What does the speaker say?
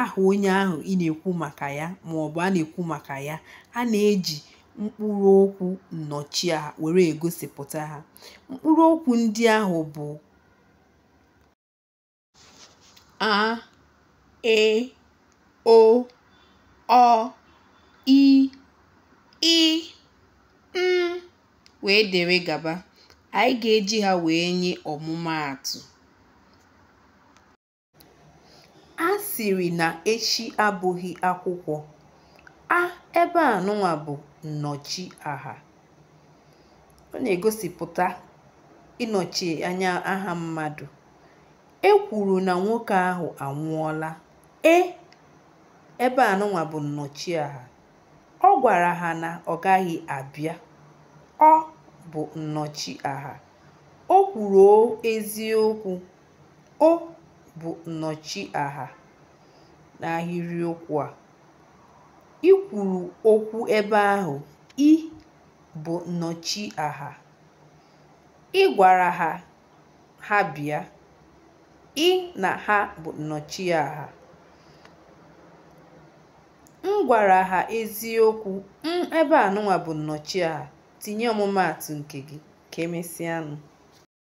aha onye ahụ ị na-ekwu maka ya ma ọ bụ a na-ekwu maka ya a na-eji mkpụrụ okwu nnọchiaha were egosipụta ha mkpụrụ okwu ndị ahụ bụ a e o ọ i ị m wee dere gaba anyị ga-eji ha wee nye ọmụmaatụ A sịrị na echi abụghị akwụkwọ. A ebe a nụnwa bụ nnọchiaha. Ọ na-egosipụta ịnọchi anya aha mmadụ. E kwuru na nwoke ahụ anwụọla. E ebe a nụnwa bụ nnọchiaha. Ọ gwara ha na ọ gaghị abịa. Ọ bụ nnọchiaha. O kwuru eziokwu. O bụ nnọchiaha n'ahịrịokwu a. I kwuru okwu ebe ahụ. I bụ nnọchiaha. Ị gwara ha ha bịa. Ị na ha bụ nnọchiaha. M gwara ha eziokwu. M ebe a nụnwa bụ nnọchiaha. Tinye ọmụmaatụ nke gị. Ka emesịanụ.